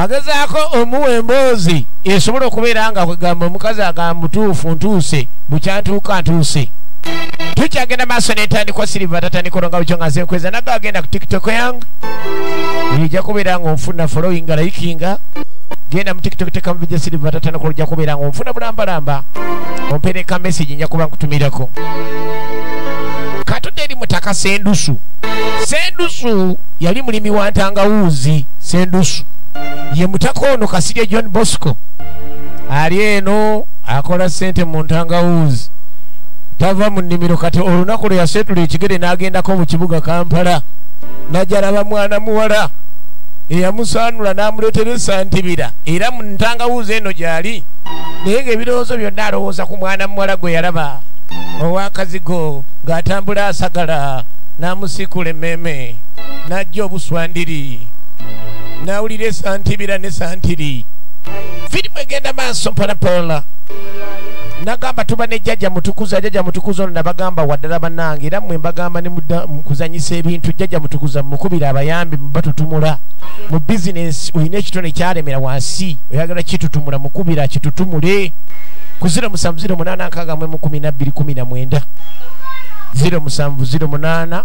agezaako omuwa emboozi esobola okubeera nga kwegamba omukazi agamba mutuufu ntuuse bukyantuuka ntuuse tukyagenda maaso nentandikwa siriva tatandika olonga bukyo nga nze nkweza naga agenda ku tiktok yange ija kubeera nga onfuna following layikinga genda mu tiktok tekamu bija siriva tatandika oluja kubeera nga onfuna bulambalamba ompereka message nja kuba nkutumirako katudde eri mutaka sendusu sendusu yali mulimi wa ntangawuuzi sendusu ye mutaka ono kasirye john bosco ali eno akola sente mu ntangawuuzi tava mu nnimiro kati olunaku lwe yaseetula ekigere n'agendako mu kibuga kampala najalaba mwana muwala eyamusaanula n'amuleetera esantibira era mu ntangawuuzi eno gyali naye ng'ebirowoozo byonna alowooza ku mwana muwala gwe yalaba owakazigo ng'atambula asagala n'amusiikula emmeeme bw'obwannannyini n'ajja obuswandiri n'awulira esantibira ne santiri firimu egenda maaso mpolapola nagamba tuba ne jjaja mutukuza jjaja mutukuza ono nabagamba waddala banange era mwe mbagamba nemukuzanyisa ebintu jjaja mutukuza mukubira abayambi batutumula mu bizinesi olina ekitone kyalemera wansi oyagala kitutumula mukubira kitutumule ku 07 08 19 19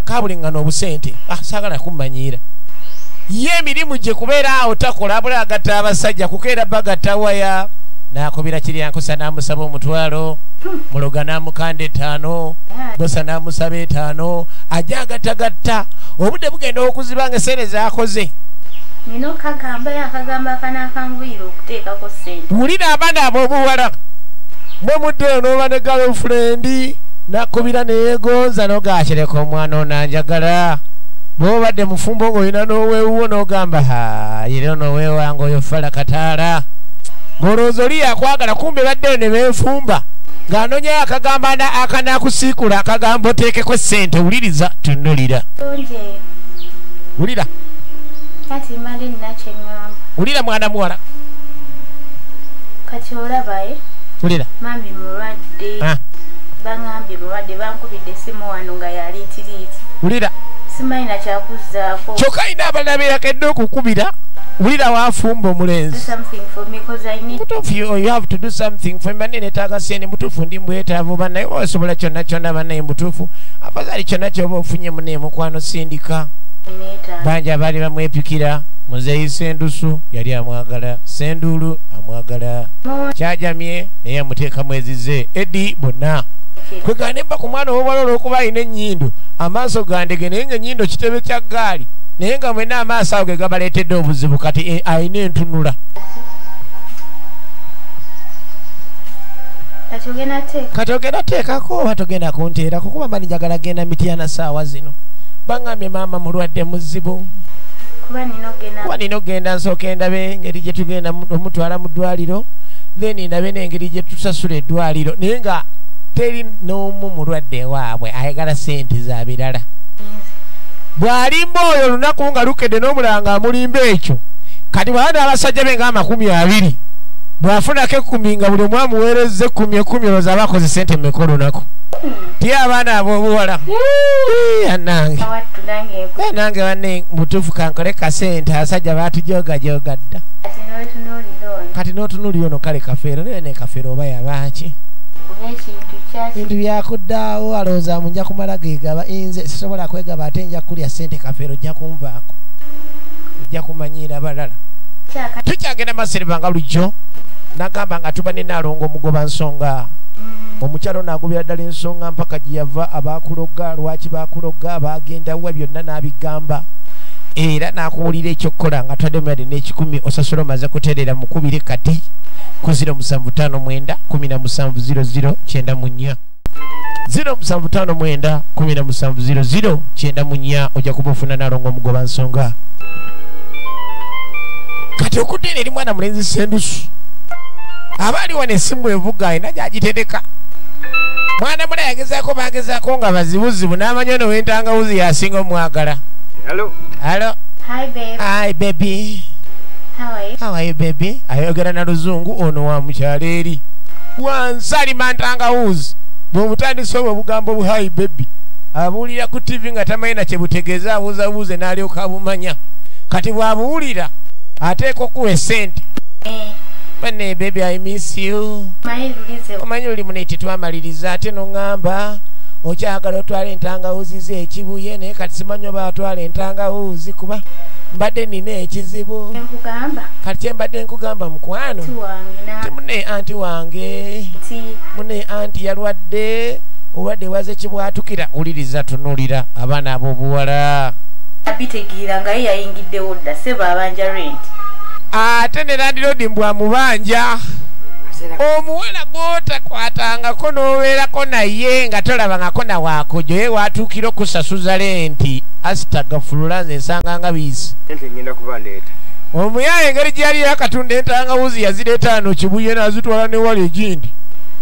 kabulengana obusente ah, sagala kumanyiira ye emirimu gye kubeera awo takola abula agatta abasajja kukeera bagatta waya nakubira kiryankusa namusaba omutwalo muloga namukanda etaano bosa namusaba etaano ajja agatagatta obudde bugenda okuziba nga esente zakoze wulira abaana abobuwala bwemudde noba ne galofrendi nakubira neyegonza nogatereka omwana onanjagala bwobadde mufumbo ngaolina nowewuwo nogamba ha yero nowewanga oyo fala kataala ngolowooza oli yakwagala kumbe baddeyo ne benfumba ng'anonyayo akagamba akanakusiikula akagamba oteekeko ssente wuliriza tunulira wulira wulira mwana muwala kati olabaye eh? wulira mami mulwadde ah. bangambye mulwadde bankubidde esimu wano nga yaliitiriiti wulira simanyi nakyakuzzaako kyokka alina abalala beyakedde okukubira wulira wafumba omulenzi netaaga sente mutuufu ndi mbwetaavu banaye osobola kyonna kyonna banaye mutuufu afazali kyonna kyoba ofunye mune mukwano sindika banja baali bamwepikira muzeeyi sendusu yali amwagala senduulu amwagala kyajamye naye amuteekamu ezize edi bonna kwegane mba ku mwana owobwala olwokuba alina ennyindo amaaso gandege naye nga ennyindo kitebe kya gaali naye nga mwena amaaso awo ge gabaleetedde obuzibu kati eh, alina entunula kati ogenda teekako oba togenda kunteera kukuba mani njagala genda mityana saawa zino baŋambye maama mulwadde muzibu kuba nina okugenda nsooka endabe engeri gye tugenda omutwala mu ddwaliro then ndabe n'engeri gye tusasula eddwaliro naye nga teri n'omu mulwadde waabwe ayagala sente za birala bw'alimba oyo olunaku nga lukedde n'omulanga amulimba ekyo kati bwaba n'abasajja be ng'amakumi abiri bw'afunako ekkumi nga buli omu amuweereza ekkumi ekkumi olwoza aba akoze sente mmeka olunaku ti abaana ab'obuwala anange nange banne mutuufu kankole kasente asajja baatujoogajogadda kati notunuli ono kale kafeero naye ne kafeero oba yabaaki bintu byakuddaawo alowooza mu nja kumala gegaba inze sisobola kwegaba ate nja kukulya sente kafeero ojja kunvaako ojja kumanyiira balala tukyagenda masiriva nga lujjo nagamba nga tuba ne nalongo omugoba nsonga mm. omukyalo nagobera ddala ensonga mpaka gyeyava abakuloga lwaki bakuloga bagendawa byonna nabigamba era nakuwulira ekyokukola nga twademyade kikumi osasula omaze kuterera mukubire kati ku 0759170094 0759170094 ojja kuba ofuna nalonga omugoba nsonga kati okuteera eri mwana mulenzi sendusu aba ali wano esimu evuga alina gyagitereka mwana mula yagezaako bagezaako nga bazibuzibu n'amanya ono wentangawuzi yasinga omwagala halo Hi babe. Hi baby. How are you? How are you baby? Ayogera na luzungu ono wa mukyalo eri. Wansali mantanga who's. Bwomutandise obwo bugambo bu hi baby. Abuulira ku TV nga tamanyi na kye butegeeza abuuzabuuze n'alyoka abumanya. Kati bw'abuwulira ateeka okuwa esente. Eh. Bane baby I miss you. Omanyi luli muno tetwamaliriza ate n'oŋŋamba okyagala otwala entangawuzi z'ekibuye naye kati simanyi oba atwala entangawuuzi kuba mbadde nina ekizibu kati kyembadde nkugamba mukwano ti mune anti wange mune anti yalwadde olwadde waze kibwatukira wuliriza tunulira abaana ab'obuwala abitegeera nga ye yayingiddewo dda sebo abanja rent ate ne landirodi mbwa mubanja omuwala gwotakwatangako n'obeerako naye nga tolabangako nawakojo ye watuukira okusasuza nti asitagafulula nze nsanga nga biisi omuyaye engeri gye yali yakatunda entangawuzi yazireetaano kibuye nazitwala newali egindi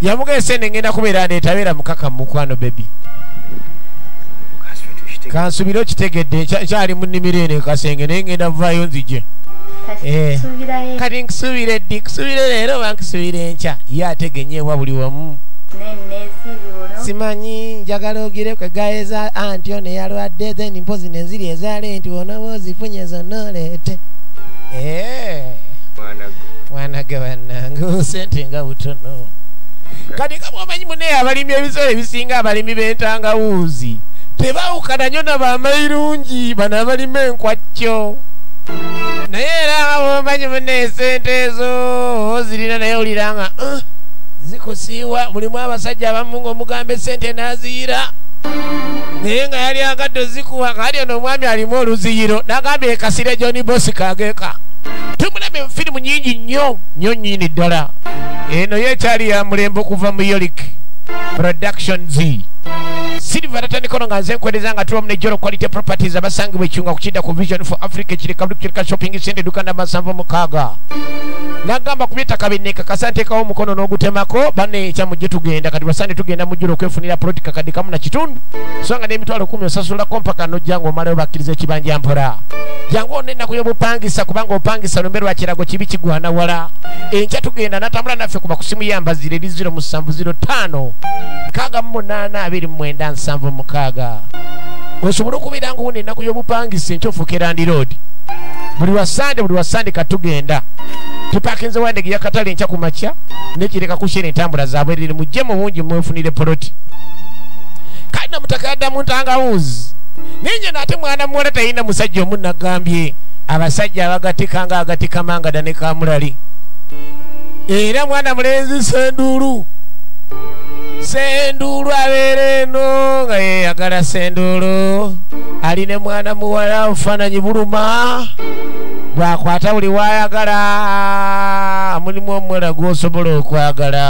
yamugese ne ngenda kubeera ndetabeera mukaka mukwano bebi kansubire okitegedde ekyali mu nnimiro eno ekasenge naye ngenda vaayo nzije eh. kati nkusubire ddi kusubire leero oba nkusubire enkya ye ategenyeebwa buli wamu simanyi njagala ogire kwegaeza anti ono eyalwadde then mpozi nenziri ezaale nti onaba ozifunye zonna oleete eh. mwanage bannange sente nga butono kati nga bwomanyi munaye abalimi ebisolo ebisinga abalimi bentangawuuzi tebawukana nyo nabamairungi bano abalima enkwakyo naye era nga bwomanyi munaye sente ezo ozirina naye olira nga eh, zikusiiwa mulimu abasajja abamu ngaomugambe sente naziyira naye nga yali agadde ozikuwa kali ono omwami alimu oluziyiro nagambye ekasire john bosi kageka tumulabye mufirimu nyingi nnyo nnyo nyini ddala eno yo ekyali ya mulembe okuva mu yolik productions silva tatandikono nga nze nkwereza nga tulamu ne jolo quality properties abasangibwa ekiunga kukidda ku vision for africa ekirikabdukirika shopping center eduka namba nsanvu mukaaga nagamba ku byettaka binneeka kasantekawo omukono n'ogutemako banne ekyamujje tugenda kati basande tugenda jula okwefunira poloti kakadde kamu na kitundu so nga n'emitwalo kumi osasulako mpaka nojja nga omalayo bakkiriza ekibanja mpola jangu ona ennaku y'obupangisa kubanga opangisa lumbe lwa kirago kibi kigwana wala enkya tugenda natambula naffe kuba kusimu yambazire eri 0 musanvu 0 ttaano nkaaga mu munaana abiri mu mwenda nsanvu mukaaga osobole okubeera nga ona ennaku y'obupangisa enkya ofuuka erandiroodi buli lwa sande buli lwa sande katugenda tupakinze wandege yakatale enkya ku makya nekireka kushera entambula zaabwe mukiriri mujje mu bungi mwefunire poloti kale namutaka yadda mu ntangawuzi naye nyena ate mwana muwala talina musajja omu nagambye abasajja abagatika nga agatika mangada ne kamulali era mwana mulenzi senduulu senduulu abeera eno nga yeyagala senduulu ali ne mwana muwala obufaananyi buluma bwakwata buli wayagala mulimu omuwala gwosobola okwagala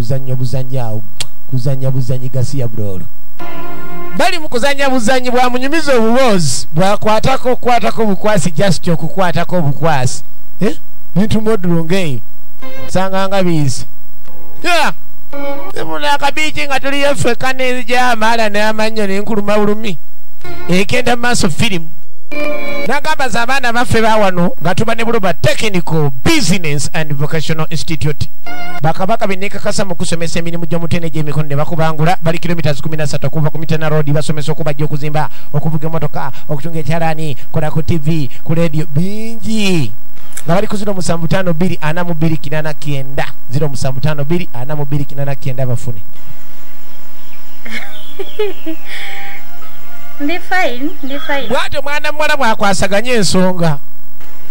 kuzanyo buzanyi awo kuzanya buzanyi gasiya bulolo bali mu kuzanya buzanyi bwamunyumiza obuboozi bwakwatako okukwatako obukwasi just okukwatako obukwasi eh? bintu modulo ngaeyo sanganga biizi simuna akabiiki nga tuliyo ffeka negyamaala n'amannyo nenkuluma bulumi ekenda mu maaso firimu nagamba za abaana baffe bawano nga tuba ne buluba technical business and vocational institute bakabaka benekakasa mu kusomesa emirimu gy'omutene gy'emikono ne bakubangula bali kilomitas 13 okuva ku mitena road basomesa okubajja okuzimba okuvuga emotoka okutunga ekyalaani kola ku tv ku leediyo bingi nga bali ku 075249 075249 bafune bwatyo mwana muwala bwakwasaganya ensonga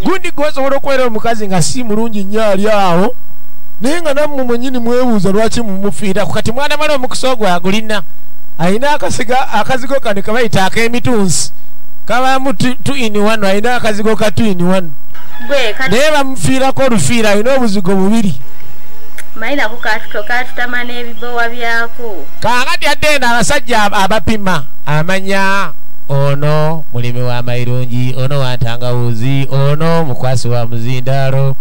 gundi gwosobola okubeera omukazi nga si mulungi nnyo ali awo naye nga nammwe mwenyini mwebuuza lwaki mumufiiraku kati mwana mala omukisa ogwo agulina alina akasiga akazigo kano kabayita ak'emitunsi kabamu tu in one alina akazigo ka tu in one naye bamufiirako olufiira alina obuzigo bubiri mayinaku katuto katutama n'ebibowa byako kaakati adde eno abasajja abapima amanya ono mulimi wa mayirungi ono wantangawuzi ono mukwasi wa muzindaalo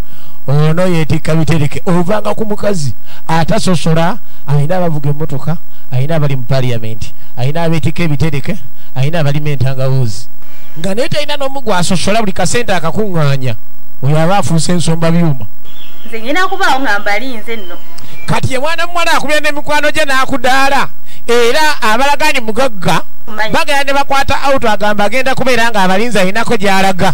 ono yetikka bitereke ovanga ku mukazi atasosola alina abavuga emotoka alina abali mu paliamenti alina abetika ebitereke alina abalima entangawuzi nga naye talina nomu gwasosola buli kasente akakuŋŋanya oyo aba afuuse ensomba byuma nze ngenda kubaawo nga mbalinze nno kati ye mwana muwala akubira nemikwano gye n'akudaala era abalagani mugagga bagenda ne bakwata auto agamba agenda kubeera nga abalinzi alinako gy'alaga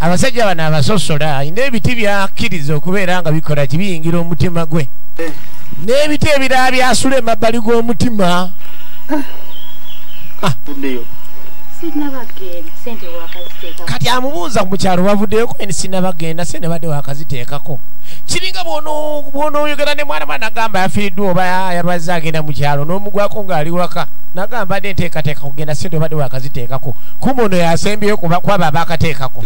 abasajja bano abasosola alina ebiti byakkiriza okubeera nga bikola kibiyingira omutima gwe n'ebiti ebirala byasula emabbali g'omutima ah. kati amubuuza ku mukyalo bavuddeyoko eni sinabagenda se nebadde wakaziteekako kiringa bwonoyogera ne mwana mwana agamba yafiiriddwa oba yalwazze agenda mu kyalo n'omugwako ng'ali waka nagamba dde nteekateeka kugenda sente obadde wakaziteekako kubuno yasembyeyo kwaba bakateekako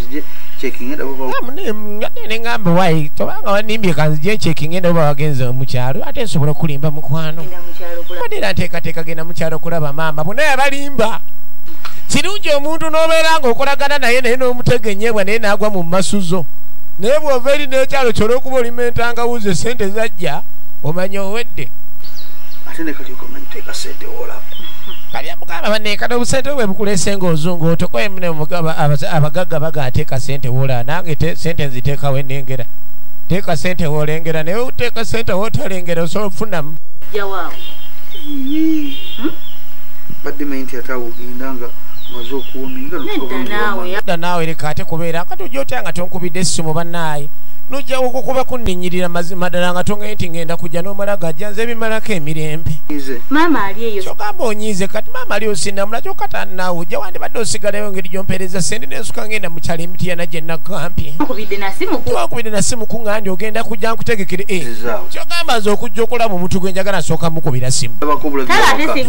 neŋamba wayi tobanga wanimbye kanzije ncekinga enda oba wagenze mukyalo ate nsobola okulimba mukwano badera nteekateeka genda mukyalo okulaba maama bona yabalimba kirungi omuntu n'obeera nga okolagana naye naye n'omutegenyebwa naye naagwa mu masuzo naye bw'ova eri n'ekyalo kyona okuba olima entangawuzi esente zajja omanya owedde mugamba banekada obusente bwe bukulese ng'ozungu otokoye mune mugaba abagagga baga ateeka sente wola nange sente nziteekawo enengera teeka sente wolengera naye oteeka sente wotalengera osobola okufunamu da naawe leka ate kubeera kati ojja otya nga tonkubidde essimu bannaaye nojja okukuba kunninyirira mazima ddala nga tongaye nti ngenda kujja n'omala gajja nze ebimalako emirembe maama onyiize kati maama ali osinamula kyoka tanaawo ja wandibadde osigalayo ngeri gyompeereza sente nensuka ngenda mukyalo emitiyana gyenagampyewakubidde nasimu kuŋa ndi ogenda kujja nkutegekere e eh, kyogamba nze okujja okulaba omuntu gwe njagala nsooka mukubira simu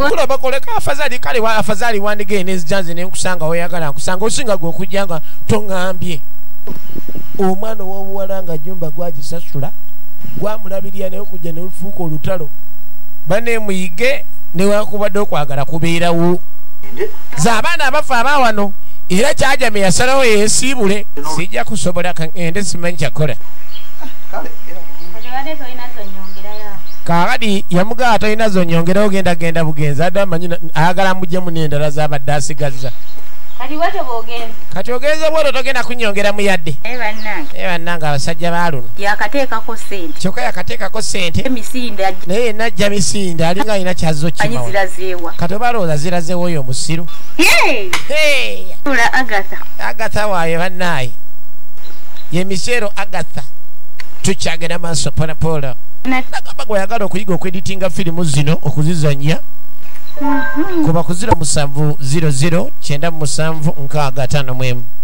kulabakoleka afazali kale afazali wandigee nezija nze nenkusanga oyagala nkusanga osinga gwe okujja nga toŋambye omwana owobuwala nga nyumba gwagisasula gwamulabirira naye okujja nelufuuka olutalo bane muyige newakubadde okwagala kubeerawo ze abaana abafa abawano era kyajame yasalawo yesiibule sijja kusobola kangende simanyi kyakola kakati yamugaa atalina zonyongera ogenda genda bugenzi adde amanyi ayagala mujemu nendala zabadde asigazza kati ogenze bwoto togenda kunyongeramu yadde bannange abasajja baluno kyokka yakateekako sente naye yenna ajja misinde alinga alina kyazizo kati oba alowooza zirazeewo oyo omusiru agatha waayo bannaayi ye miseero agatha tukyagenda maaso polapolo nagamba gweyagala okuyiga okweditinga firimu zino okuzizanya mhm. kuba kuziro musanvu 00 kyenda musanvu nkaaga tano mwemu